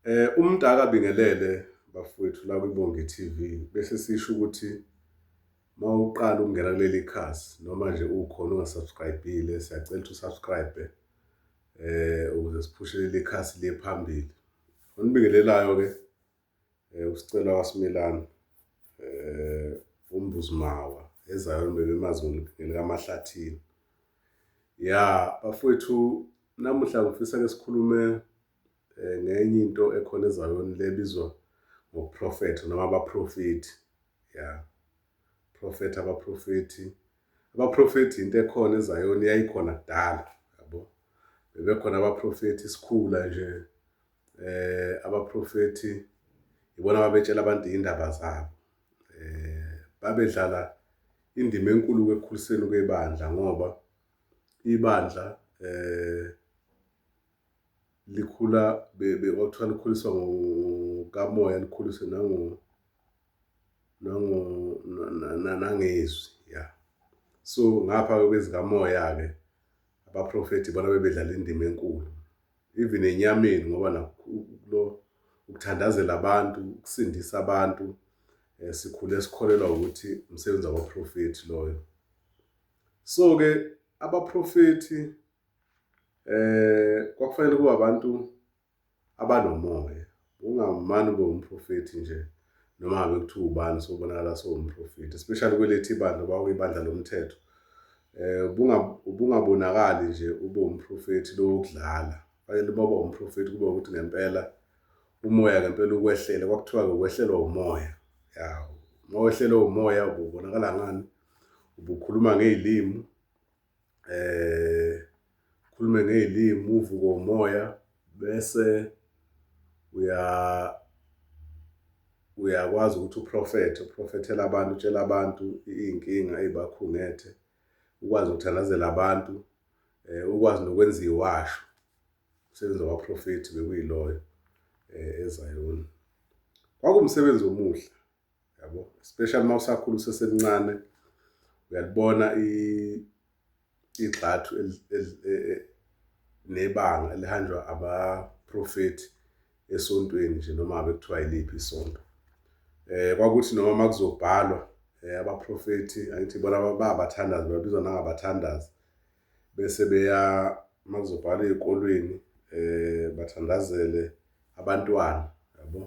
Eh umdaka bingelele bafowethu la kwiBongi TV bese sisho ukuthi mawuqala ukungena kuleli khasi noma nje ukhona ungasubscribile siyacela ukuthi usubscribe eh ukuze siphushe leli khasi liye phambili. Onibingelelayo ke eh usicela wasimilana eh umbuzimawa ezayo mbebe mazulu ngelikaMahlathini. Ya bafowethu namuhla ngifisa ke sikhulume eh, ngenye into ekhona ezayoni le bizwa ngoprofetho noma abaprofethi ya profetha abaprofethi abaprofethi into ekhona ezayoni yayikhona kudala yabo bebekhona abaprofethi isikhula nje eh abaprofethi ibona ababetshela abantu indaba zabo eh babedlala indima enkulu ekukhuliseni kwebandla ngoba ibandla eh likhula kwakuthiwa likhuliswa ngokamoya likhuliswe nango nango nangezwi ya so ngapha-ke kwezikamoya-ke abaprofethi bona bebedlala indima enkulu even enyameni ngoba nakulo ukuthandazela abantu ukusindisa abantu um sikhule sikholelwa ukuthi umsebenzi wabaprofethi loyo so-ke abaprofethi eh kwakufanele kuba abantu abanomoya ungamani ube umprofethi nje noma ngabe kuthiwa ubani sobonakala sowumprofethi especially kwelethi ibandla uba uyibandla lomthetho eh ubungabonakali nje ube umprofethi lokudlala fanele uba umprofethi kube ukuthi ngempela umoya ngempela ukwehlele kwakuthiwa ke ukwehlelwa umoya ya uma wehlelwe umoya ubonakala ngani ubukhuluma ngezilimi eh khulume ngezilimi uvuke umoya bese uya uyakwazi ukuthi uprofethe uprofethele abantu utshela abantu izinkinga ezibakhungethe ukwazi ukuthandazela abantu eh ukwazi nokwenza iwasho umsebenzi wabaprofethi bekuyiloyo eh eZayoni kwakumsebenzi omuhle yabo especially uma usakhula usesemncane uyalibona igxathu nebanga elihanjwa abaprofethi esontweni nje noma ngabe kuthiwa yiliphi isonto eh kwakuthi noma makuzobhalwa eh, abaprofethi angithi bona babathandazi babizwa nangabathandazi bese beya makuzobhalwa ezikolweni eh bathandazele abantwana yabo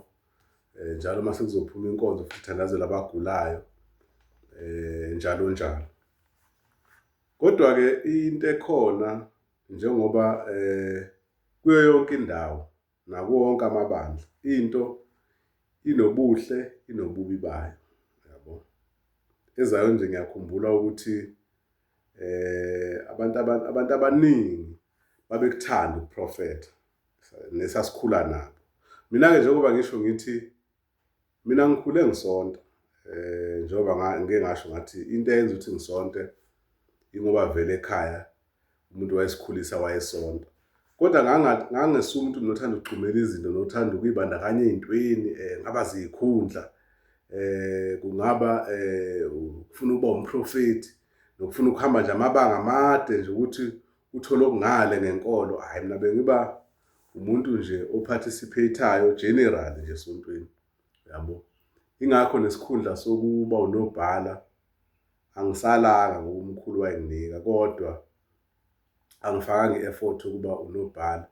eh, njalo uma sekuzophuma inkonzo futhi thandazela abagulayo eh, njalo njalo kodwa-ke into ekhona njengoba eh, kuyo yonke indawo nakuwo wonke amabandla into inobuhle inobubi bayo yabo ezayo nje ngiyakhumbula ukuthi eh abantu abantu abaningi babekuthanda ukuprofetha nesasikhula nabo mina-ke njengoba ngisho ngithi mina ngikhule ngisonta um njengoba ngike ngasho ngathi into eyenza ukuthi ngisonte ingoba vele ekhaya umuntu wayesikhulisa wayesonta kodwa ngangesuke umuntu nothanda ukugxumela izinto nothanda ukuyibandakanya ey'ntweni um eh, ngaba ziyikhundla eh kungaba eh ufuna uba umprofeti nokufuna ukuhamba nje amabanga amade nje ukuthi uthole okungale ngenkolo hayi mina bengiba umuntu nje ophathisipheyithayo general nje esontweni yabo ingakho nesikhundla sokuba unobhala angisalanga ngoba umkhulu wayenginika kodwa angifakanga i-effort ukuba unobhala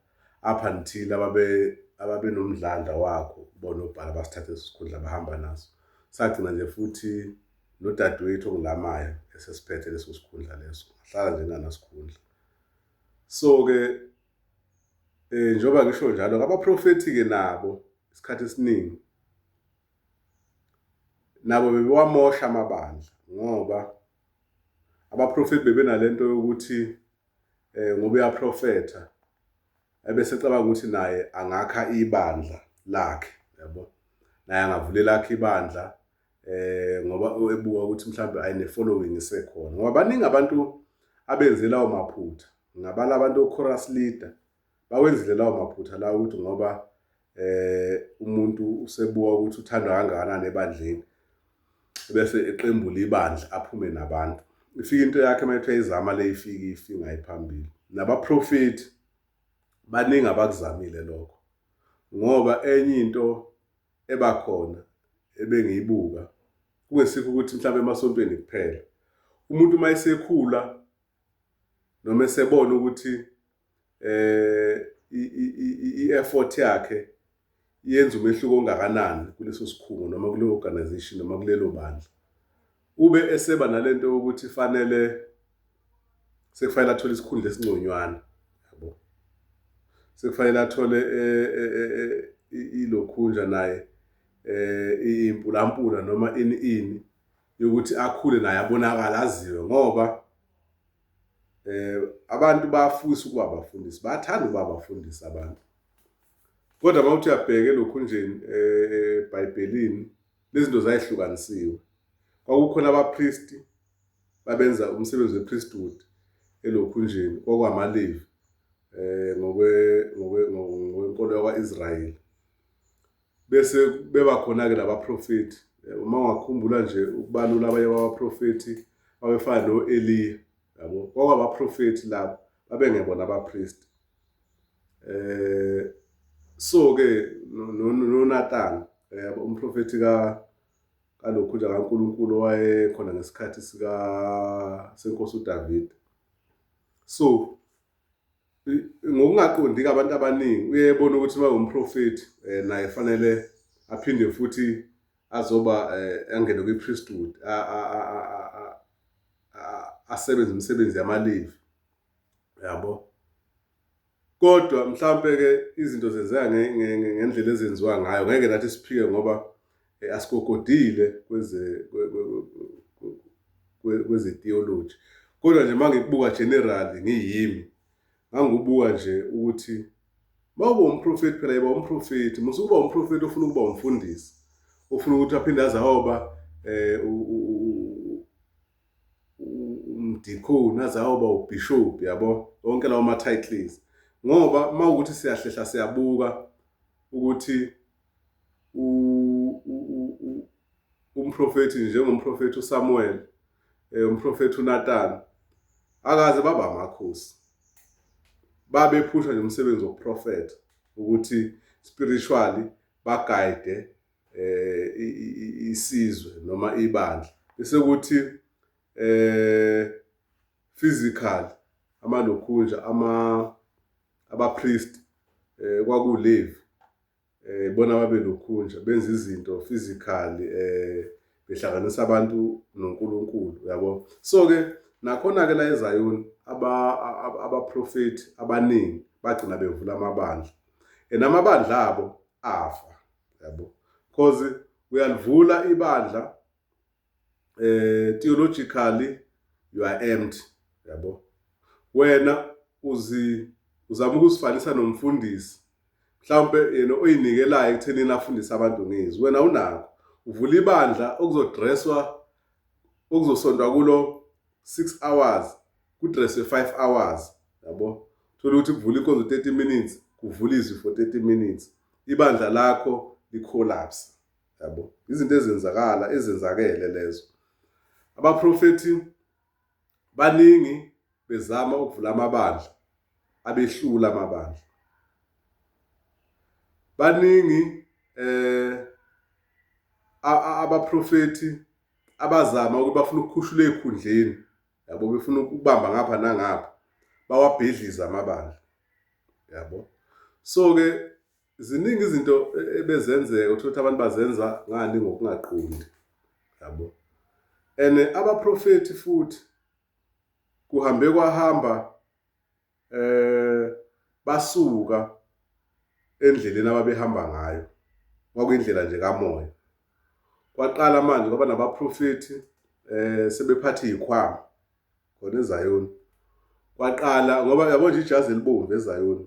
up until ababe ababenomdlandla wakho bonobhala basithathe isikhundla bahamba naso sagcina nje futhi nodadewethu ongilamayo esesiphethe leso sikhundla leso ngahlala nje nganasikhundla so-ke um njengoba ngisho njalo ngabaprofethi-ke nabo isikhathi esiningi nabo bebewamosha amabandla ngoba abaprofethi bebenalento yokuthi eh ngoba uyaprofetha ebese cabanga ukuthi naye angakha ibandla lakhe yabo naye angavulela lakhe ibandla eh ngoba ebuka ukuthi mhlawumbe ayine following isekhona ngoba baningi abantu abenze lawo maphutha ngabala abantu ochorus leader bawenzile lawo maphutha la ukuthi ngoba eh umuntu usebuka ukuthi uthandwa kangakanani ebandleni bese eqembula ibandla aphume nabantu ifika into yakhe uma ethe izama le ifike ifinga iphambili nabaprofethi baningi abakuzamile lokho ngoba enye into eba khona ebengiyibuka kungesikho ukuthi mhlawumbe emasontweni kuphela umuntu uma esekhula noma esebona ukuthi eh i-effort yakhe yenza umehluko ongakanani kuleso sikhungo noma kuleyo organization noma kulelo bandla Ube eseba nalento ukuthi fanele sekufanele athole isikhundla esingconywana yabo. Sekufanele athole eh, eh, eh, ilokhunja naye eh impulampula noma ini ini yokuthi akhule naye abonakala aziwe ngoba eh abantu bafisa ukuba abafundisi bathanda ukuba abafundisi abantu kodwa mawuthi uyabheke lokhu nje eh, ebhayibhelini Lezinto zayihlukanisiwe. Kwakukhona abapristi babenza umsebenzi wepriesthood elokhunjeni kwakwamaLevi eh ngokwe ngokwenkolo yakwaIsrayeli. Bese beba khona ke labaprofeti. Eh, uma ungakhumbula nje ukubalula abanye babaprofeti babefana noEliya yabo. Kwakubaprofeti labo babengebona abapristi. eh so ke noNathan eh umprofeti ka kalokhu nje kaNkuluNkulu wayekhona ngesikhathi sika senkosi uDavid so ngokungaqondi ke abantu abaningi uyebona ukuthi uma umprofeti eh, naye fanele aphinde futhi azoba eh, angene kwipriesthood asebenze imisebenzi yamalivi yabo kodwa mhlampe-ke izinto zenzeka ngendlela ezenziwa ngayo ngeke nathi siphike ngoba eh, asikokodile kwezethiyoloji kodwa nje uma ngikubuka generali ngiyimi ngangibuka nje ukuthi mawuba umprofethi phela yiba umprofethi musa ukuba umprofethi ofuna ukuba umfundisi ofuna ukuthi aphinde azahoba um eh, umdikhoni aze ayoba ubishop yabo wonke lawo ma titles ngoba uma ukuthi siyahlehla siyabuka ukuthi umprofethi njengomprofethi uSamuel eh, umprofethi uNatan akaze baba amakhosi babephusha nje umsebenzi wokuprofetha ukuthi spiritually bagayide eh isizwe noma ibandla bese kuthi eh physical amalokhunja ama abapriest eh kwakulevi eh bona babe lokhunja benza izinto physically eh behlanganisa abantu noNkulunkulu uyabo so ke nakhona ke la eZion aba abaprofeti abaningi bagcina bevula amabandla and amabandla abo afa yabo cause uyalivula ibandla eh theologically you are empty yabo wena uzi uzama ukusifanisa nomfundisi mhlawumbe yena oyinikelayo ekuthenini afundise abantu ngizwi wena unakho uvula ibandla okuzodresswa okuzosontwa kulo 6 hours kudresswe 5 hours yabo thola ukuthi kuvula inkonzo 30 minutes kuvula izwi for 30 minutes ibandla lakho licollapse yabo izinto ezenzakala ezenzakele lezo abaprofethi baningi bezama ukuvula amabandla abehlula amabandla baningi eh abaprofeti abazama ukuthi bafuna ukukhushula ezikhundleni yabo befuna ukubamba ngapha nangapha bawabhedliza amabandla yabo so ke ziningi izinto e, ebezenzeka uthola ukuthi abantu bazenza ngani ngokungaqondi yabo and abaprofeti futhi kuhambe kwahamba eh basuka endleleni ababehamba ngayo kwakuyindlela nje kamoya kwaqala manje kwaba nabaprofethi eh sebephatha izikhwama khona ezayoni kwaqala ngoba yabo nje ijazi elibomvu ezayoni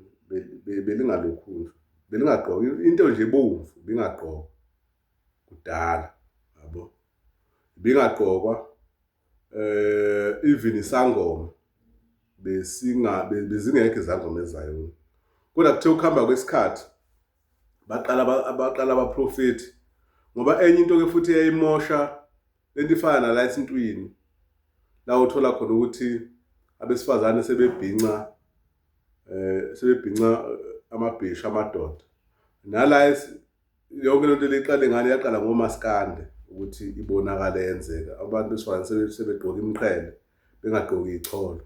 belingalokhu nje belingagqoki into nje ebomvu bingagqoka kudala yabo bingagqokwa eh even isangoma besingabe bezingekho izangoma ezayona kodwa kuthe ukuhamba kwesikhathi baqala abaqala abaprofeti ngoba enye into ke futhi eyayimosha lento ifana nala esintwini la uthola khona ukuthi abesifazane sebebhinca eh sebebhinca eh, amabhisha amadoda nala yonke lento liqale ngale yaqala ngomaskande ukuthi ibonakale yenzeka abantu besifazane sebegqoka imqhele bengagqoki icholo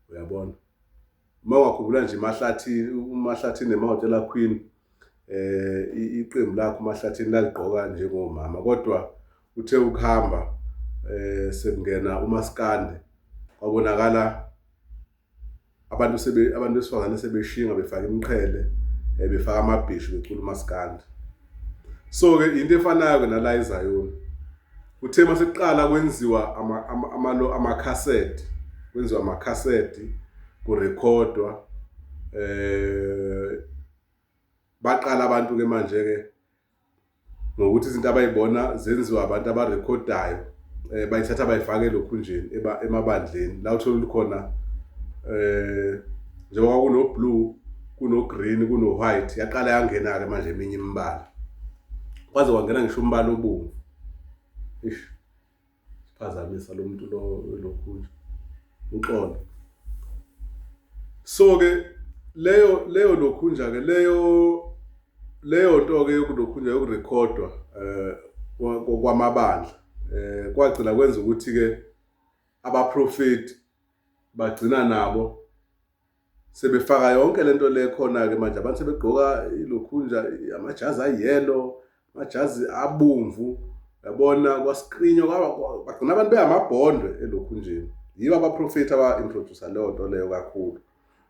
uyabona uma ungakhumbula nje mahlathini umahlathini nemahotela queen eh iqembu lakho mahlathini laligqoka njengomama kodwa uthe ukuhamba eh sekungena umaskande kwabonakala abantu sebe abantu besifazane sebeshinga befaka imqhele eh, befaka amabhishu becula umaskandi so ke into efanayo ke nala eZion uthe maseqala kwenziwa ama ama ama cassette kwenziwa ama cassette kurekhodwa eh baqala abantu ke manje ke ngokuthi izinto abayibona zenziwa abantu abarekhodayo eh bayithatha bayifake elokhunjeni emabandleni la uthola khona eh njengoba kuno blue kuno green kuno white yaqala yangena ke manje eminye imibala kwaze kwangena ngisho umbala obomvu ish phazamisa lo muntu lo lokhu uxolo so ke leyo leyo lokhunja ke leyo leyo nto ke yokulokhunja yokurekhodwa eh kwamabandla eh kwagcina kwenza ukuthi ke abaprofeti bagcina nabo sebefaka yonke lento le khona ke manje abantu sebegqoka ilokhunja amajazi ayelo amajazi abomvu yabona kwaskrinyo bagcina abantu behamabhondwe elokhunjeni yiba abaprofethi aba-introducer leyo nto leyo kakhulu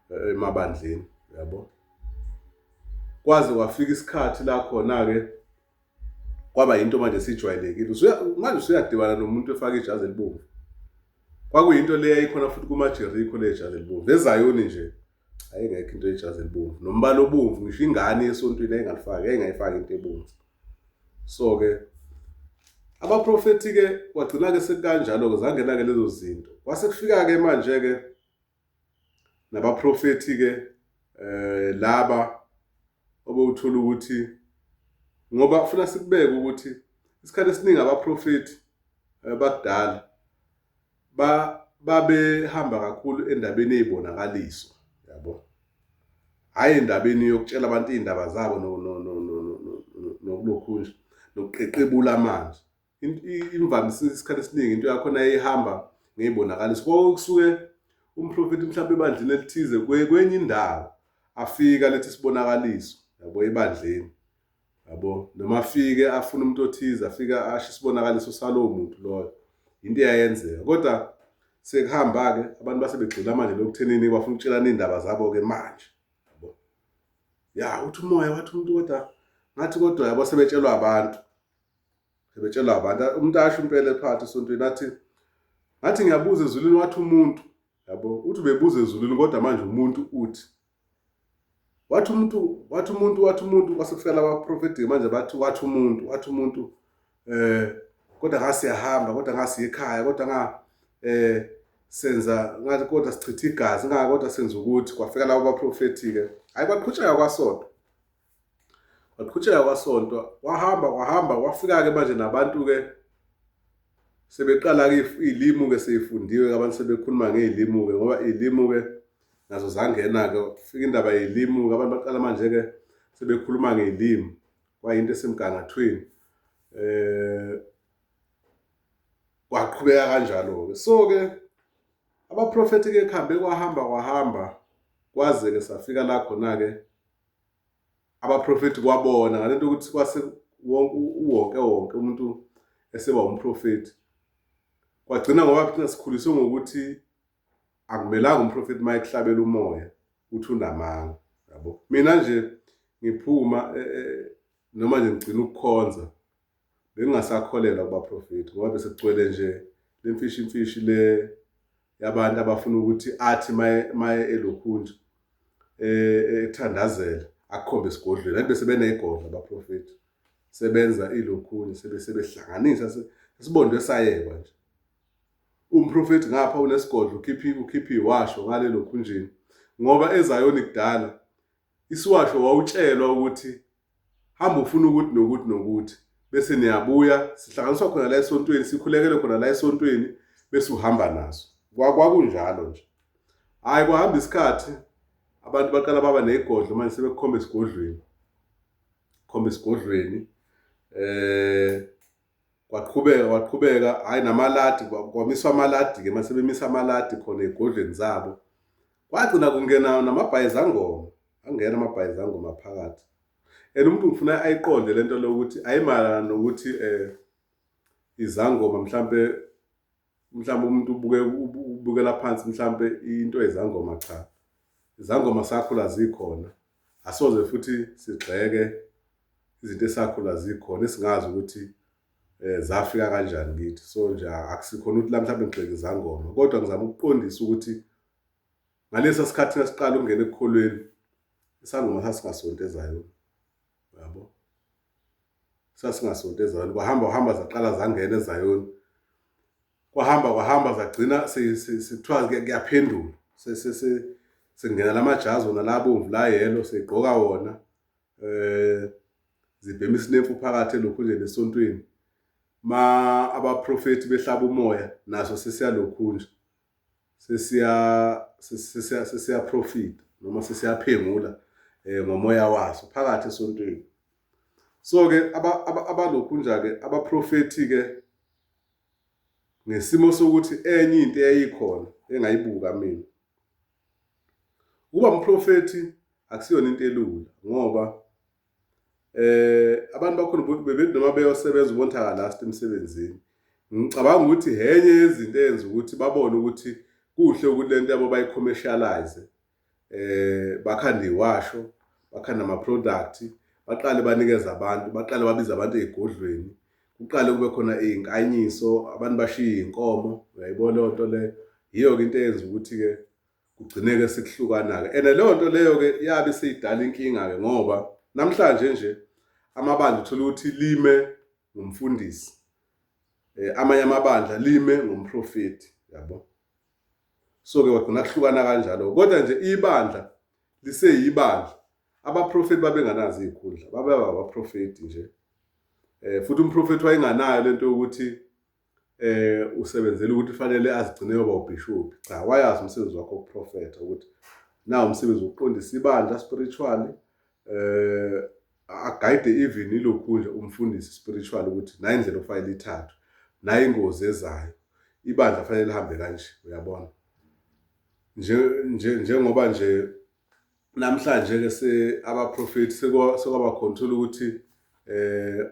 eh, emabandleni yabo kwaze kwafika isikhathi la khona-ke kwaba yinto manje sijwayelekile manje usuyadibana nomuntu efaka ijazi elibomvu kwakuyinto le yayikhona futhi kumajerikho le jazi elibomvu nezayoni nje ayengekho into ejazi elibomvu nombala obomvu ngisho ingane yesontweni ayingalifaki ayingayifaki into ebomvu so-ke abaprofethi-ke kwagcina-ke sekukanjalo-ke zangena-ke lezo zinto kwase kufika-ke manje-ke nabaprofethi-ke eh laba obewuthola ukuthi ngoba ufuna sikubeke ukuthi isikhathi esiningi abaprofethi eh, bakudala ba babehamba kakhulu endabeni ezibonakaliso yabo hayi endabeni yokutshela abantu izindaba zabo nokulokhunja nokuqeqebula manje imvamisa isikhathi esiningi into yakhona eyihamba ngeyibonakaliso konke kusuke umprofethi mhlawumbe ebandleni elithize kwenye indawo afika lethi isibonakaliso yabo ebandleni yabo noma afike afuna umuntu othize afika asho isibonakaliso salowo muntu loyo into eyayenzeka kodwa sekuhamba-ke abantu base begxila manje lokuthenini bafuna ukutshelana iy'ndaba zabo-ke manje yabo ya uthi umoya wathi umuntu kodwa ngathi kodwa yabo sebetshelwa abantu sebetshela abantu umuntu asho impela ephakathi esontweni athi ngathi ngiyabuza ezulwini wathi umuntu yabo uthi ubebuza ezulwini kodwa manje umuntu uthi wathi umuntu wathi umuntu wathi umuntu kwasekufela abaprofeti manje bathi wathi umuntu wathi umuntu eh kodwa ngasiyahamba kodwa ngasiyekhaya kodwa nga eh senza ngathi kodwa sichitha igazi ngaka kodwa senza ukuthi kwafika labo baprofeti ke hayi baqhutsheka kwasodwa Waqhutsheka kwasonto wahamba wahamba wafika-ke manje nabantu-ke sebeqala-ke iy'limu-ke sey'fundiwe-ke abantu sebekhuluma ngey'limu-ke ngoba iy'limu-ke nazo zangena-ke fika indaba yey'limu-ke abantu baqala manje-ke sebekhuluma ngey'limu kwayinto esemgangathweni um kwaqhubeka kanjalo-ke so-ke abaprofethi-ke kuhambe kwahamba kwahamba kwaze-ke safika la khona-ke abaprofethi kwabona ngale nto ukuthi kwase wonke wonke umuntu eseba umprofethi kwagcina ngoba kuthina sikhuliswe ngokuthi akumelanga umprofethi uma ekuhlabela umoya uthi unamanga yabo mina nje ngiphuma e, e, noma nje ngigcina ukukhonza bengingasakholelwa kubaprofethi ngoba bese kugcwele nje le mfishi mfishi le yabantu abafuna ukuthi athi maye maye elokhunja eh, eh ethandazela akukhombe isigodlweni kanti bese beneyigodla abaprofethi sebenza ilokhunye sebe sebehlanganisa sibondwe sayekwa nje umprofethi ngapha unesigodlo ukhiphi ukhiphi washo ngale lokhunjini ngoba ezayoni kudala Isiwasho wawutshelwa ukuthi hamba ufuna ukuthi nokuthi nokuthi bese niyabuya sihlanganiswa khona la esontweni sikhulekele khona la esontweni bese uhamba naso kwakunjalo nje hhayi kwahamba isikhathi abantu baqala baba negodlo manje sebekukhomba esigodlweni khomba esigodlweni eh kwaqhubeka kwaqhubeka hhayi namaladi kwamiswa amaladi-ke uma sebemisa amaladi khona ey'godlweni zabo kwagcina kungena namabhayizangoma angena amabhayizangoma phakathi and umuntu ngifuna ayiqonde le nto lokuthi ayimayelana nokuthi um izangoma mhlampe mhlawumbe umuntu ubuke ubukela phansi mhlawumbe into ezangoma cha izangoma sakhula zikhona asoze futhi sigxeke izinto esakhula zikhona esingazi ukuthi eh zafika kanjani kithi so nje akusikhona ukuthi la mhlawumbe ngigxeke izangoma kodwa ngizama ukuqondisa ukuthi ngalesa sikhathi esiqala ukungena ekukholweni isangoma sasingasontezayo yabo sasingasonto ezayoni kwahamba uhamba zaqala zangena ezayoni kwahamba kwahamba zagcina kuthiwa kuyaphendula sengena la majazi wona la bomvu la yelo seyigqoka wona um zibhema isinemfu phakathi elokhu nje nesontweni ma abaprofethi behlaba umoya naso sesiyalokhu nje sesiya sesiya sesiya profit noma sesiyaphengula eh ngomoya waso phakathi esontweni so ke abalokhu nje ke abaprofeti ke ngesimo sokuthi enye into eyayikhona engayibuka mina ukuba umprofeti akusiyona into elula ngoba eh abantu bakhona bebethi noma beyosebenza ubonta kalast emsebenzini ngicabanga ukuthi henye yezinto eyenza ukuthi babone ukuthi kuhle ukuthi lento yabo bayicommercialize eh bakhanda iwasho bakhanda ama product baqale banikeza abantu baqale babiza abantu ezigodlweni kuqale kube khona izinkanyiso abantu bashiye inkomo uyayibona lento le yiyo ke into eyenza ukuthi ke kugcineke sekuhlukana-ke and leyo nto leyo-ke yabe seyidala inkinga-ke ngoba namhlanje nje amabandla uthola ukuthi lime ngumfundisi eh, amanye amabandla lime ngumprofeti yabo so-ke wagcina kuhlukana kanjalo kodwa nje ibandla liseyibandla abaprofeti babenganazo iy'khundla babeba abaprofeti nje um futhi umprofethi wayenganayo le nto yokuthi eh usebenzela ukuthi fanele azigcine yoba ubishop cha wayazi umsebenzi wakho uprofeta ukuthi na umsebenzi uqondisa ibandla spiritually eh agayide even ilokhu nje umfundisi spiritual ukuthi nayi indlela ofanele ithathwe nayi ingozi ezayo ibandla fanele lihambe kanje uyabona nje nje njengoba nje namhlanje ke se abaprofeti sekwaba control ukuthi eh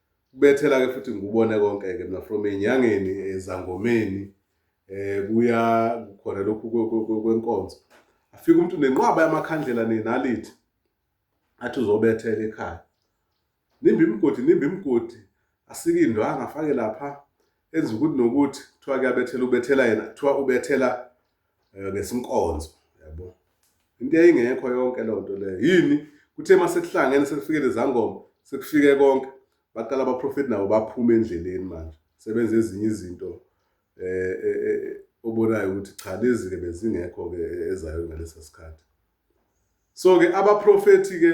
kubethela ke futhi ngikubone konke ke mina from enyangeni ezangomeni eh, eh kuya khona lokhu kwenkonzo afika umuntu nenqwaba yamakhandlela nenalithi athi uzobethela ekhaya nimba imigodi nimba imigodi asike indwanga afake lapha enza ukuthi nokuthi kuthiwa kuyabethela ubethela yena kuthiwa ubethela eh, ngesinkonzo yabo into eyingekho yonke leyo nto leyo yini kuthe uma sekuhlangene sekufike lezangoma sekufike konke baqala abaprofethi nabo baphume endleleni manje sebenza ezinye izinto eh, eh, eh obonayo ukuthi cha lezi ke bezingekho ke ezayo ngalesa sikhathi so ke abaprofethi ke